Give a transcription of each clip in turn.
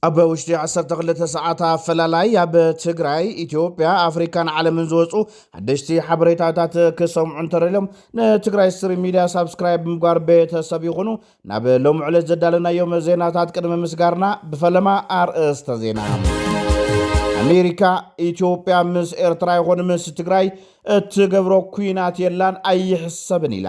ኣብ ውሽጢ 12 ሰዓት ኣፈላላይ ኣብ ትግራይ ኢትዮጵያ ኣፍሪካን ዓለምን ዝወፁ ሓደሽቲ ሓበሬታታት ክሰምዑ እንተረልዮም ንትግራይ ስትሪ ሚድያ ሳብስክራይብ ምግባር ቤተሰብ ይኹኑ ናብ ሎሚ ዕለት ዘዳለናዮም ዜናታት ቅድሚ ምስጋርና ብፈለማ ኣርእስተ ዜና ኣሜሪካ ኢትዮጵያ ምስ ኤርትራ ይኹን ምስ ትግራይ እትገብሮ ኩናት የላን ኣይሕሰብን ኢላ።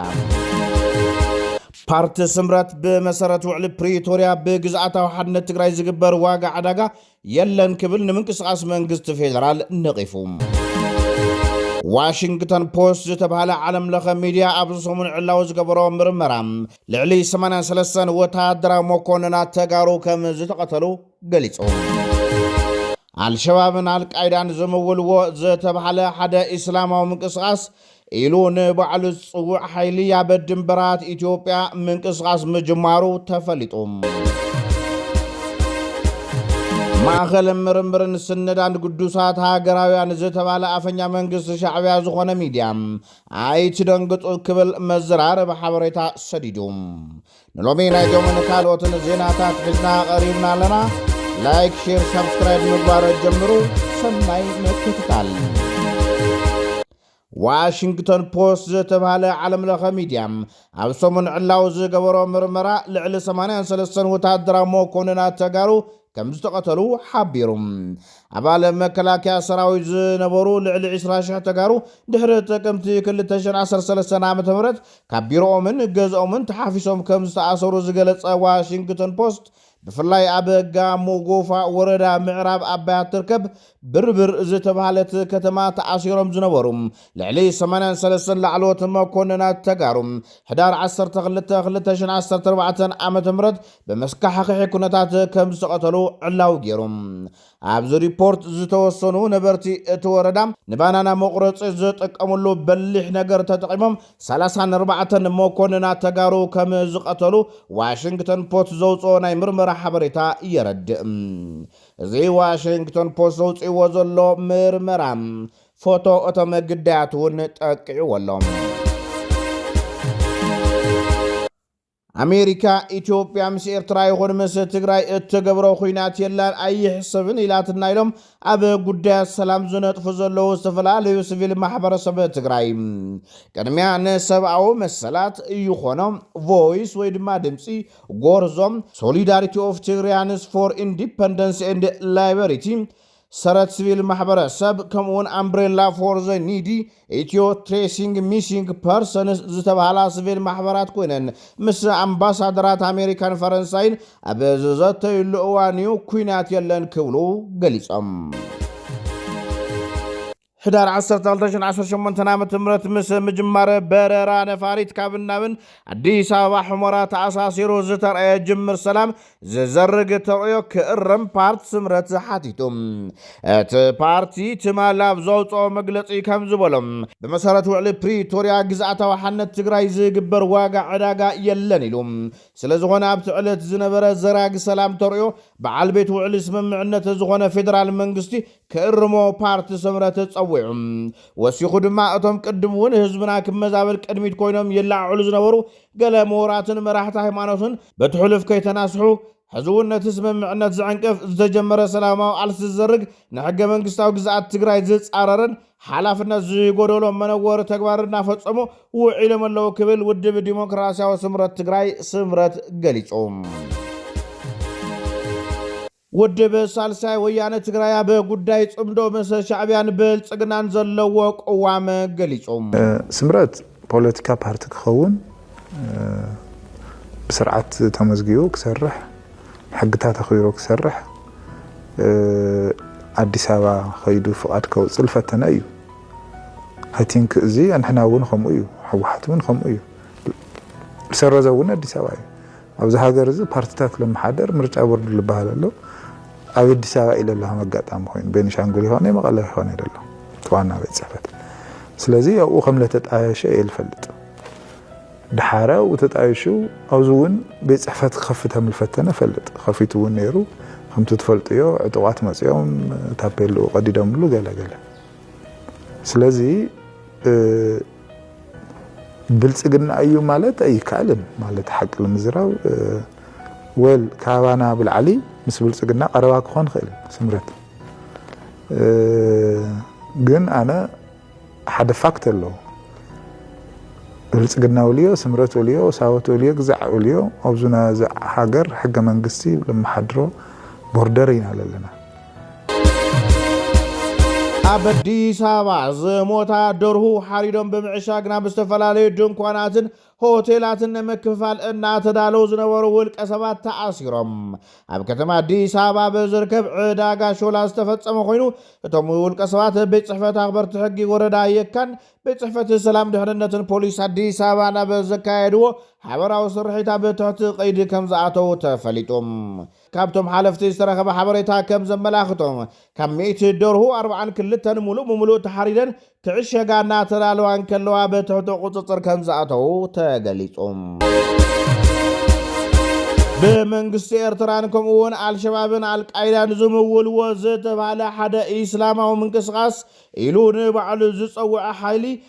ፓርቲ ስምረት ብመሰረት ውዕሊ ፕሪቶርያ ብግዝኣታዊ ሓድነት ትግራይ ዝግበር ዋጋ ዕዳጋ የለን ክብል ንምንቅስቓስ መንግስቲ ፌደራል ነቒፉ። ዋሽንግተን ፖስት ዝተባህለ ዓለም ለኸ ሚድያ ኣብዚ ሰሙን ዕላዊ ዝገበሮ ምርመራ ልዕሊ 83 ወተሃደራዊ መኮንናት ተጋሩ ከም ዝተቐተሉ ገሊጹ። ኣልሸባብን ኣልቃይዳን ዝምውልዎ ዝተብሃለ ሓደ ኢስላማዊ ምንቅስቓስ ኢሉ ንባዕሉ ዝጽውዕ ሓይሊ ኣብ ድንበራት ኢትዮጵያ ምንቅስቓስ ምጅማሩ ተፈሊጡ። ማእኸል ምርምርን ስነዳን ግዱሳት ሃገራውያን ዝተባለ ኣፈኛ መንግስቲ ሻዕብያ ዝኾነ ሚድያ ኣይትደንግፁ ክብል መዘራረቢ ሓበሬታ ሰዲዱ ንሎሚ ናይዞምን ካልኦትን ዜናታት ሒዝና ቐሪብና ኣለና ላይክ ሼር ሳብስክራይብ ምግባሮ ጀምሩ ሰናይ ምክትታል ዋሽንግቶን ፖስት ዝተብሃለ ዓለም ለኸ ሚድያ ኣብ ሰሙን ዕላው ዝገበሮ ምርመራ ልዕሊ 83 ወታደራዊ መኮንናት ተጋሩ ከምዝተቐተሉ ሓቢሩ። ኣባል መከላከያ ሰራዊት ዝነበሩ ልዕሊ ዕስራ ሽሕ ተጋሩ ድሕሪ ጥቅምቲ ክልተ ሽሕ ዓሰርተ ሰለስተ ዓ.ም ካብ ቢሮኦምን ገዝኦምን ተሓፊሶም ከምዝተኣሰሩ ዝገለጸ ዋሽንግተን ፖስት ብፍላይ ኣብ ጋሞ ጎፋ ወረዳ ምዕራብ ኣባያ እትርከብ ብርብር ዝተብሃለት ከተማ ተኣሲሮም ዝነበሩ ልዕሊ ሰማንያን ሰለስተን ላዕለዎት መኮንናት ተጋሩ ሕዳር ዓሰርተ ክልተ ክልተ ሽሕን ዓሰርተ ኣርባዕተን ዓመተ ምህረት ብመስካሕኽሒ ኩነታት ከም ዝተቐተሉ ዕላዊ ገይሩ። ኣብዚ ሪፖርት ዝተወሰኑ ነበርቲ እቲ ወረዳ ንባናና መቑረፂ ዝጥቀምሉ በሊሕ ነገር ተጠቒሞም ሰላሳን ኣርባዕተን መኮንናት ተጋሩ ከም ዝቐተሉ ዋሽንግተን ፖስት ዘውፅኦ ናይ ምርመራ ሓበሬታ የረድእ። እዚ ዋሽንግቶን ፖስት ዘውጺእዎ ዘሎ ምርመራ፣ ፎቶ እቶም ግዳያት'ውን ጠቂዕዎ ኣሎ። ኣሜሪካ ኢትዮጵያ ምስ ኤርትራ ይኹን ምስ ትግራይ እትገብሮ ኩናት የላን ኣይሕሰብን ኢላትና ኢሎም ኣብ ጉዳያት ሰላም ዝነጥፉ ዘለዉ ዝተፈላለዩ ስቪል ማሕበረሰብ ትግራይ ቅድሚያ ንሰብኣዊ መሰላት ይኾኖ ቮይስ ወይ ድማ ድምፂ ጎርዞ ሶሊዳሪቲ ኦፍ ትግርያንስ ፎር ኢንዲፐንደንስ ኤንድ ላይበሪቲ፣ ሰረት ስቪል ማሕበረሰብ ከምኡውን ኣምብሬላ ፎር ዘ ኒዲ፣ ኢትዮ ትሬሲንግ ሚሲንግ ፐርሰንስ ዝተብሃላ ስቪል ማሕበራት ኮይነን ምስ ኣምባሳደራት ኣሜሪካን ፈረንሳይን ኣብ ዝዘተዩሉ እዋን እዩ ኲናት የለን ክብሉ ገሊጾም። ሕዳር ዓሰርተ ክልተ ሽሕ ዓሰርተ ሸሞንተ ዓመተ ምህረት ምስ ምጅማር በረራ ነፋሪት ካብን ናብን ኣዲስ ኣበባ ሑመራ ተኣሳሲሩ ዝተርኣየ ጅምር ሰላም ዝዘርግ ተርእዮ ክእረም ፓርቲ ስምረት ሓቲቱ። እቲ ፓርቲ ትማል ኣብ ዘውፅኦ መግለፂ ከም ዝበሎ ብመሰረት ውዕሊ ፕሪቶርያ ግዝኣታዊ ሓነት ትግራይ ዝግበር ዋጋ ዕዳጋ የለን ኢሉ። ስለዝኾነ ኣብቲ ዕለት ዝነበረ ዘራጊ ሰላም ተርእዮ በዓል ቤት ውዕሊ ስምምዕነት ዝኾነ ፌደራል መንግስቲ ክእርሞ ፓርቲ ስምረት ጸዊዑ። ወሲኹ ድማ እቶም ቅድም እውን ህዝብና ክብ መዛበል ቅድሚት ኮይኖም ይለዓዕሉ ዝነበሩ ገለ ምሁራትን መራሕቲ ሃይማኖትን በቲ ሕሉፍ ከይተናስሑ፣ ሕዚ እውን ነቲ ስምምዕነት ዝዕንቅፍ፣ ዝተጀመረ ሰላማዊ ቃልሲ ዝዘርግ፣ ንሕገ መንግስታዊ ግዝኣት ትግራይ ዝጻረርን ሓላፍነት ዝጎደሎ መነወሪ ተግባር እናፈጸሙ ውዒሎም ኣለዉ ክብል ውድብ ዲሞክራሲያዊ ስምረት ትግራይ፣ ስምረት፣ ገሊጹ። ውድብ ሳልሳይ ወያነ ትግራይ ኣብ ጉዳይ ፅምዶ ምስ ሻዕቢያን ብልፅግናን ዘለዎ ቅዋም ገሊፁ። ስምረት ፖለቲካ ፓርቲ ክኸውን ብስርዓት ተመዝጊቡ ክሰርሕ ሕግታት ኣኽቢሩ ክሰርሕ ኣዲስ ኣበባ ከይዱ ፍቓድ ከውፅእ ልፈተነ እዩ። ኣይ ቲንክ እዚ ኣንሕና እውን ከምኡ እዩ፣ ህወሓት እውን ከምኡ እዩ። ዝሰረዘ እውን ኣዲስ ኣበባ እዩ። ኣብዚ ሃገር እዚ ፓርቲታት ለመሓደር ምርጫ ቦርድ ልበሃል ኣሎ ኣብ ኣዲስ ኣበባ ኢለ ኣለኹ መጋጣሚ ኮይኑ ቤኒሻንጉል ይኾነ መቐለ ይኾነ ኢለ ኣለኹ እቲ ዋና ቤት ፅሕፈት ስለዚ ኣብኡ ከም ለተጣየሸ እየ ልፈልጥ ድሓረ ኣብኡ ተጣይሹ ኣብዚ እውን ቤት ፅሕፈት ክኸፍት ከም ልፈተነ ፈልጥ ከፊቱ እውን ነይሩ ከምቲ ትፈልጥዮ ዕጡቋት መፅኦም ታፔልኡ ቀዲዶምሉ ገለገለ ስለዚ ብልፅግና እዩ ማለት ኣይከኣልን ማለት ሓቂ ንምዝራብ ወል ካባና ብልዓሊ ምስ ብልፅግና ቀረባ ክኾን ይኽእል ስምረት ግን ኣነ ሓደ ፋክት ኣሎ ብልፅግና ወልዮ ስምረት ወልዮ ሳወት ወልዮ ግዛዕ ወልዮ ኣብዙ ሃገር ሕገ መንግስቲ ልመሓድሮ ቦርደር ኢና ለለና ኣብ ኣዲስ ኣበባ ዝሞታ ደርሁ ሓሪዶም ብምዕሻግ ናብ ዝተፈላለዩ ድንኳናትን ሆቴላትን ንምክፍፋል እናተዳለው ዝነበሩ ውልቀ ሰባት ተኣሲሮም ኣብ ከተማ ኣዲስ ኣበባ ብዝርከብ ዕዳጋ ሾላ ዝተፈፀመ ኮይኑ እቶም ውልቀ ሰባት ቤት ፅሕፈት ኣኽበርቲ ሕጊ ወረዳ የካን ቤት ፅሕፈት ሰላም ድሕንነትን ፖሊስ ኣዲስ ኣበባ ናብ ዘካየድዎ ሓበራዊ ስርሒት ኣብ ትሕቲ ቀይዲ ከም ዝኣተው ተፈሊጡ ካብቶም ሓለፍቲ ዝተረኸበ ሓበሬታ ከም ዘመላኽቶ፣ ካብ ሚእቲ ደርሁ ኣርብዓን ክልተን ሙሉእ ብሙሉእ ተሓሪደን ክዕሸጋ እናተዳለዋ እንከለዋ ብትሕቲ ቁፅፅር ከም ዝኣተው ተገሊፁ። ብመንግስቲ ኤርትራን ከምኡ እውን ኣልሸባብን ኣልቃይዳን ዝምውልዎ ዝተብሃለ ሓደ ኢስላማዊ ምንቅስቓስ ኢሉ ንባዕሉ ዝፀውዐ ሓይሊ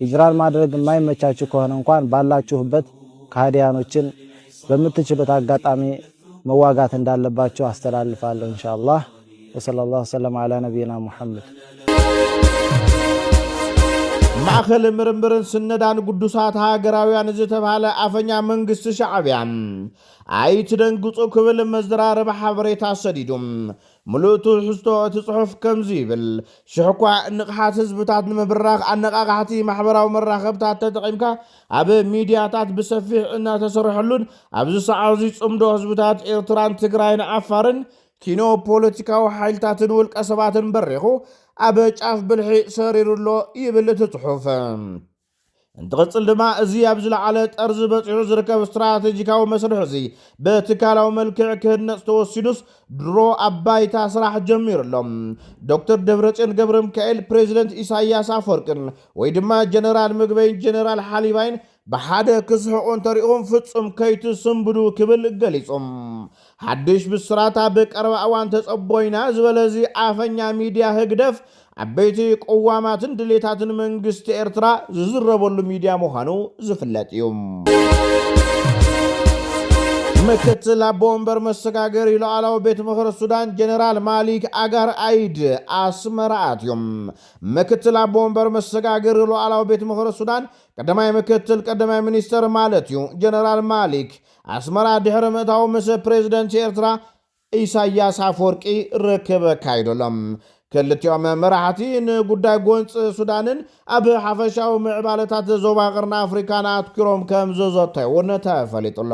ሂጅራን ማድረግ እማይመቻቹ ከሆነ እንኳን ባላቹሁበት ከሃዲያኖችን በምትችሉት አጋጣሚ መዋጋት እንዳለባቹ አስተላልፋለሁ እንሻላህ ወሰለላሁ ሰለም አላ ነቢይና ሙሐመድ። ማእኸል ምርምርን ስነዳን ግዱሳት ሃገራውያን ዝተብሃለ ኣፈኛ መንግስቲ ሻዕብያ ኣይትደንግፁ ክብል መዘራረቢ ሓበሬታ ሰዲዱ ምሉእ ትሕዝቶ እቲ ጽሑፍ ከምዚ ይብል፣ ሽሕ'ኳ ንቕሓት ህዝብታት ንምብራኽ ኣነቓቓሕቲ ማሕበራዊ መራኸብታት ተጠቒምካ ኣብ ሚድያታት ብሰፊሕ እናተሰርሐሉን ኣብዚ ሰዓት'ዚ ጽምዶ ህዝብታት ኤርትራን ትግራይን ዓፋርን ኪኖ ፖለቲካዊ ሓይልታትን ውልቀሰባትን በሪኹ ኣብ ጫፍ ብልሒ ሰሪሩ'ሎ ይብል እቲ ጽሑፍ። እንትቕፅል ድማ እዚ ኣብ ዝለዓለ ጠርዚ በፂሑ ዝርከብ ስትራቴጂካዊ መስርሕ እዚ ብትካላዊ መልክዕ ክህነፅ ተወሲኑስ ድሮ ኣብ ባይታ ስራሕ ጀሚሩ ኣሎ። ዶክተር ደብረፅዮን ገብረሚካኤል፣ ፕሬዚደንት ኢሳያስ ኣፈወርቅን ወይ ድማ ጀነራል ምግበይን ጀነራል ሓሊባይን ብሓደ ክስሕቑ እንተሪእኹም ፍፁም ከይትስንብዱ ክብል ገሊፁ። ሓድሽ ብስራት ኣብ ቀረባ እዋን ተጸቦ ኢና ዝበለ እዚ ኣፈኛ ሚድያ ህግደፍ ዓበይቲ ቅዋማትን ድሌታትን መንግስቲ ኤርትራ ዝዝረበሉ ሚድያ ምዃኑ ዝፍለጥ እዩ። ምክትል ኣቦ ወንበር መሰጋገሪ ሉኣላዊ ቤት ምኽሪ ሱዳን ጀነራል ማሊክ ኣጋር ኣይድ ኣስመራ ኣትዮም። ምክትል ኣቦ ወንበር መሰጋገሪ ሉኣላዊ ቤት ምኽሪ ሱዳን ቀዳማይ ምክትል ቀዳማይ ሚኒስተር ማለት እዩ ጀነራል ማሊክ ኣስመራ ድሕሪ ምእታዉ ምስ ፕሬዝደንት ኤርትራ ኢሳያስ ኣፍወርቂ ርክብ ኣካይዱ ኣሎ። ክልቲኦም መራሕቲ ንጉዳይ ጎንፂ ሱዳንን ኣብ ሓፈሻዊ ምዕባለታት ዞባ ቀርኒ ኣፍሪካን ኣትኲሮም ከምዝዘተዩ እውን ተፈሊጡ ኣሎ።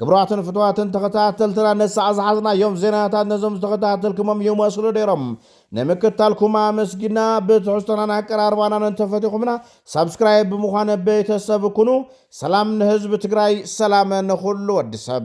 ክብራትን ፍትዋትን ተኸታተልትና ንሳዕ ዝሓዝናዮም ዜናታት ነዞም ዝተኸታተልክሞም ይመስሉ ነይሮም። ንምክታልኩም ኣመስጊና ብትሕዝቶናን ኣቀራርባናን እንተፈቲኹምና ሳብስክራይብ ብምዃን ቤተሰብ ኩኑ። ሰላም ንህዝቢ ትግራይ ሰላም ንኹሉ ወዲ ሰብ።